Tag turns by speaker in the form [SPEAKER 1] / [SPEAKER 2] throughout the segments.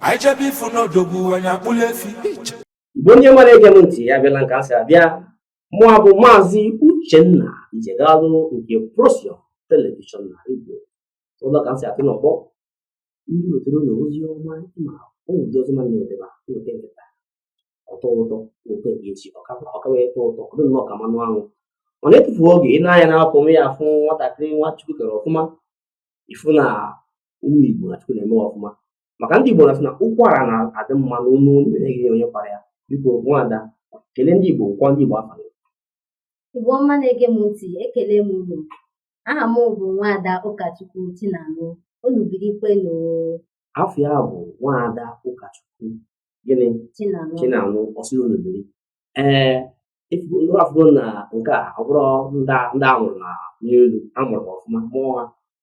[SPEAKER 1] anyị chebe ifu n'odogwu anyị akpụla efi Igbo onye mara ege m ntị ya bịala nke asị abịa mụwa bụ maazị uchenna ijegalụ nke prosion telivishọn na redio ụlọ ka m si atụ n'ọgbọ ndị wetara unu ozi ọma ma ụmụ ndị ọzọ mmadụ na-ewetara nweta nke taa ọ tọọ ụtọ ụtọ nke echi ọ kawa ịtọ ụtọ ọ dị nnọọ ka mmanụ anwụ ọ na-etufu oge ị na-anya na-akwụ ya afụ nwatakịrị nwa chukwu kere ọfụma ifu na ụmụ Igbo na Chukwu na-eme ọfụma maka ndị Igbo na-asị na ụkwara na-adị mma n'ọnụ onye na-enye onye kwara ya biko nwada kelee ndị Igbo gwa ndị Igbo afa Igbo
[SPEAKER 2] ọma na-ege m ntị ekele m unu aha m bụ nwada Ụkachukwu Chinanụ unu birikwenụ afa
[SPEAKER 1] ya bụ nwada Ụkachukwu gịnị Chinanụ ọ sị unu biri ee unu afụgo na nke a ọ bụrọ ndị a mụrụ n'elu a mụrụ ọfụma mụọ ha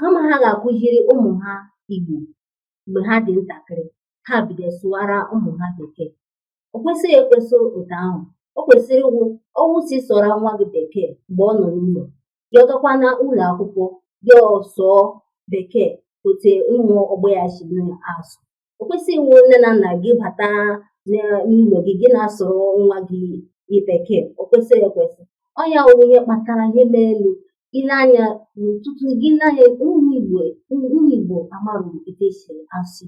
[SPEAKER 2] kama ha ga-akụziri ụmụ ha Igbo mgbe ha dị ntakịrị ha bido sụwara ụmụ ha bekee o kwesịghị ekwesị otu ahụ o kwesịrị ịwụ ọ wụ sị sụọrọ nwa gị bekee mgbe ọ nọ n'ụlọ ya gakwa na ụlọ akwụkwọ ya asụọ bekee otu ụmụ ọgbọ ya si asụ o kwesịghị ịwụ nne na nna gị bata n'ụlọ gị gị na-asụrụ nwa gị bekee o kwesịghị ekwesị ọ ya wụ ihe kpatara ihe melu ị lee anya na ọtụtụ gị n'anya ụmụ igbo ụmụ igbo amarụ etu esi asụ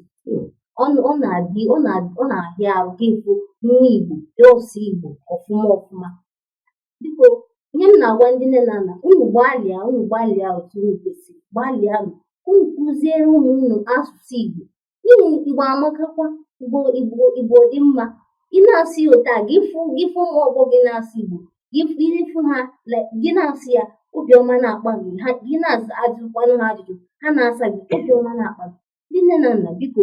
[SPEAKER 2] ọ na-adị ọ na-ahịa arụ gị ịfụ nwa igbo na-asụ igbo ọfụma ọfụma biko ihe m na-agwa ndị nne na nna unu gbalịa unu gbalịa otu unu kwesịrị gbalịanụ unu kụziere ụmụ unu asụsụ Igbo n'ihi Igbo amakakwa Igbo Igbo Igbo dị mma ị na-asụ ya otu a gị fụ gị fụ ụmụ ọgbọ gị na-asụ Igbo gị fụ gị fụ ha like, gị na-asụ ya obiọma na-akpa gị ha gị na-ajụkwanụ ha ajụjụ ha na-asa gị obiọma na-akpa gị ndị nne na nna biko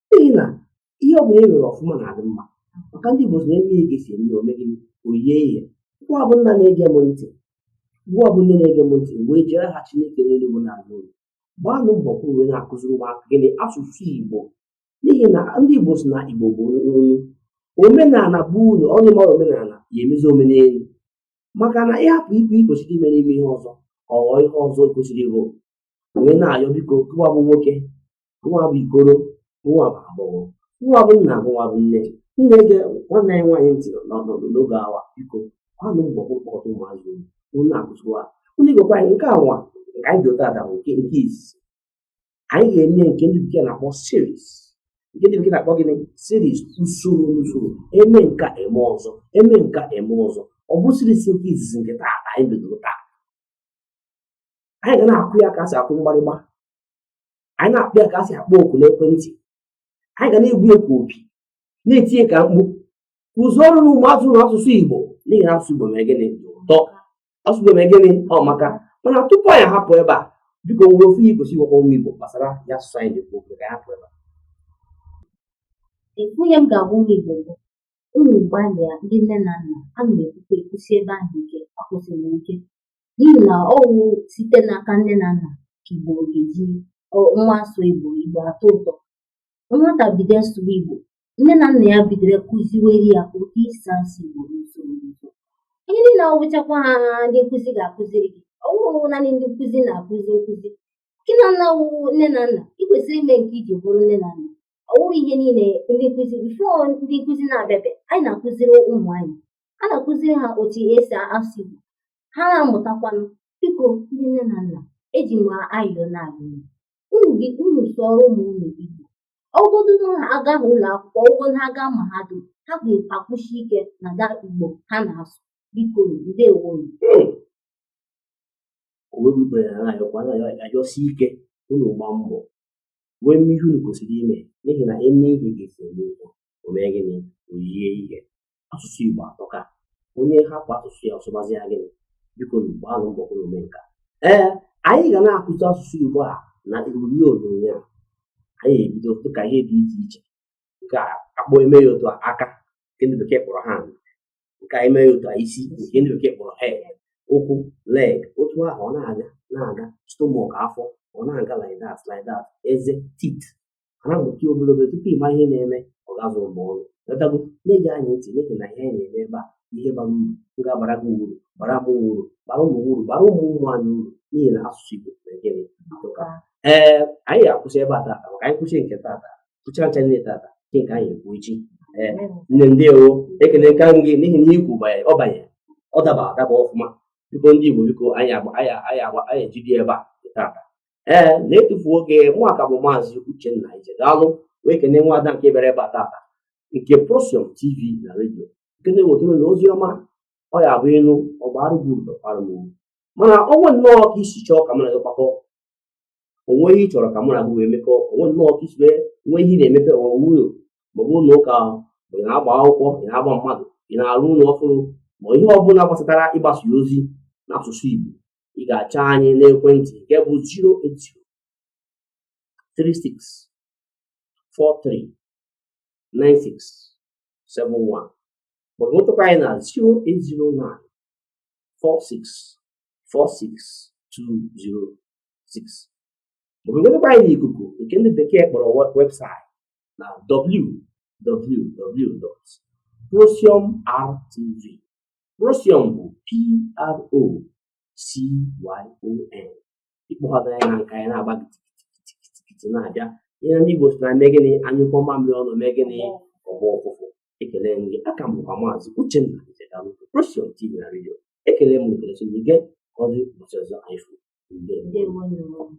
[SPEAKER 1] n'ihi na ihe ọ bụla e mere ọfụma na-adị mma maka ndị Igbo na e mee ihe ka e si eme ya o mee gịnị o yie ihe gịwa bụ nna na-ege m ntị gịwa bụ nne na-ege m ntị wee jiri aha Chineke n'eluigwe na-ayọ unu gbaanụ mbọ ka unu na-akụziri ụmụaka gịnị asụsụ Igbo n'ihi na ndị Igbo si na Igbo bụ olu omenala bụ unu onye amarọ omenala ya emezie omenelu maka na ị hapụ ihe i kwesịrị ime na-eme ihe ọzọ ọ ghọọ ihe ọzọ kwesịrị ịbụ wee na-ayọ biko gịwa bụ nwoke gịwa bụ ikoro gịwa bụ agbọghọ gịwa bụ nna gịwa bụ nne na-ege nwanne anyị nwaanyị ntị n'ọnọdụ n'oge awa biko gbaanụ mbọ kpọkọta ụmụazị unu akụziwa unu Igbo kwa anyị nke anwa nke anyị bido taa bụ nke nke izizi anyị ga-eme nke ndị bekee na-akpọ series nke ndị bekee na-akpọ gịnị series usoro usoro e mee nke a e mee ọzọ e mee nke a e mee ọzọ ọ bụ series nke izizi nke taa anyị bidoro taa anyị ga na-akụ ya ka a si akụ mgbarịgba anyị na-akpọ ya ka a si akpọ oku n'ekwentị anyị ga na-egbu ya ka opi na-eti ya ka mkpu kụzierenụ ụmụazụ unu asụsụ igbo n'ihi na asụsụ igbo mere gịnị ụtọ asụsụ igbo mere gịnị ọ maka mana tupu anyị hapụ ebe a biko o nwere ofu ihe ị ga-asị gwakwa ụmụ igbo gbasara ya asụsụ anyị na-ekwu okwu ka anyị hapụ ebe
[SPEAKER 2] a ihe m ga-agwa ụmụ Igbo bụ unu gbalịa ndị nne na nna ana m ekwukwa ekwusi ebe ahụ ike ekwusiri ike n'ihi na ọ wụ site n'aka nne na nna ka Igbo ga-eji nwa asụ Igbo Igbo atọ ụtọ nwata bido sụwa Igbo nne na nna ya bidoro kụziwere ya otu esi asụ Igbo n'usoro n'usoro ihe niile ọ wụchakwaha ndị nkụzi ga-akụziri gị ọ wụrụ naanị ndị nkụzi na-akụzi nkụzi gị nwa wụrụ nne na nna ị kwesịrị ime nke iji bụrụ nne na nna ọ wụrụ ihe niile ndị nkụzi before ndị nkụzi na-abịabe anyị na-akụziri ụmụ anyị a na-akụziri ha otu esi asụ Igbo ha na-amụtakwanụ biko ndị nne na nna eji m ayọ na-ayọ unu sị unu sụọrọ ụmụ unu Igbo ọ wụgodu na ha aga ụlọ akwụkwọ ọ wụgodu ha aga mahadum ha ga-akwụsi ike n'ụda Igbo ha na-asụ biko
[SPEAKER 1] ndewo ayọsi ike unu gba mbọ wee mee ihe unu kwesịrị ime n'ihi na emee ihe ka esi eme ihe o mee gịnị o yie ihe asụsụ Igbo atọka onye hapụ asụsụ ya ọ sụbazie gịnị biko gbaanụ mbọ unu mee nke a ee anyị ga na-akụzi asụsụ Igbo a na ihe onyonyo a anyị ebido dịka ihe dị iche iche nke akpọ eme ya otu aka nke ndị bekee kpọrọ hand nke anyị mee ya otu isi nke ndị bekee kpọrọ head ụkwụ leg otu ahụ ọ na-aga na-aga stomach afọ ọ na-aga like that like that eze teeth ha na-amụta obere obere tupu ịma ihe na-eme ọ ga-azụ mgbe ọrụ lọtago na-ege anyị ntị n'ihi na ihe anyị na-eme ebe a ihe bara uru ga-abara gị uru bara m uru bara ụmụ uru bara ụmụ ụmụ anyị uru n'ihi na asụsụ Igbo na gịnị ee anyị ga-akwụsị ebe a tata maka anyị kwusie nke tata kwucha ncha niile tata kee nke anyị ekwu echi ee nne ndewo ekelekwa m gị n'ihi na ikwu banye ọ banye ọ daba adaba ọfụma biko ndị Igbo biko anyị ejedebe ebe a tata ee n'atụfughị oge mụwa ka bụ maazị Uchenna Ije daalụ wee kene nwa ada nke bịara ebe a tata nke Prosium TV na redio nke na-ewetara unu ozi ọma ọ ya bụ ịnụ ọgba arụgbu ụdọkwara m ugwu mana o nwee nnọọ ka i si chọọ ka mụ na gị kpakọ o nwee ihe ị chọrọ ka mụ na gị wee mekọ o nwee nnọọ ka i si wee nwe ihe ị na-emepe ụwa ụlọ maọbụ ụlọ ụka ma ị na-agba akwụkwọ ị na-akwa mmadụ ị na-arụ ụlọ ọhụrụ ma ihe ọ bụla gbasatara ịgbasa ozi n'asụsụ Igbo ị ga-achọ anyị n'ekwentị nke bụ 08036439671 maọbụ nwetakwa anyị na 08094646206 maọbụ nwetakwa anyị n'ikuku nke ndị bekee kpọrọ webụsaịtị na www.procyonrtv Procyon bụ P-R-O-C-Y-O-N. Ịkpọkọta ya na nka ya na-agba kitikiti na-abịa. Ihe ndị Igbo sị na e mee gịnị a nyụkọọ mamịrị ọnụ o mee gịnị ọ gbọọ ụfụfụ. Ekelee m gị aka m bụkwa maazị Uchenna Nzekalụgo Procyon TV na redio. Ekele m ekele so gị gee ka ọ dị ụbọchị ọzọ anyị fụ. Ndewo.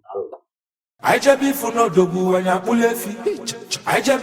[SPEAKER 1] Daalụ. Anyị jebe ịfụ
[SPEAKER 3] n'odogwu anyị akpụla efi. Anyị jebe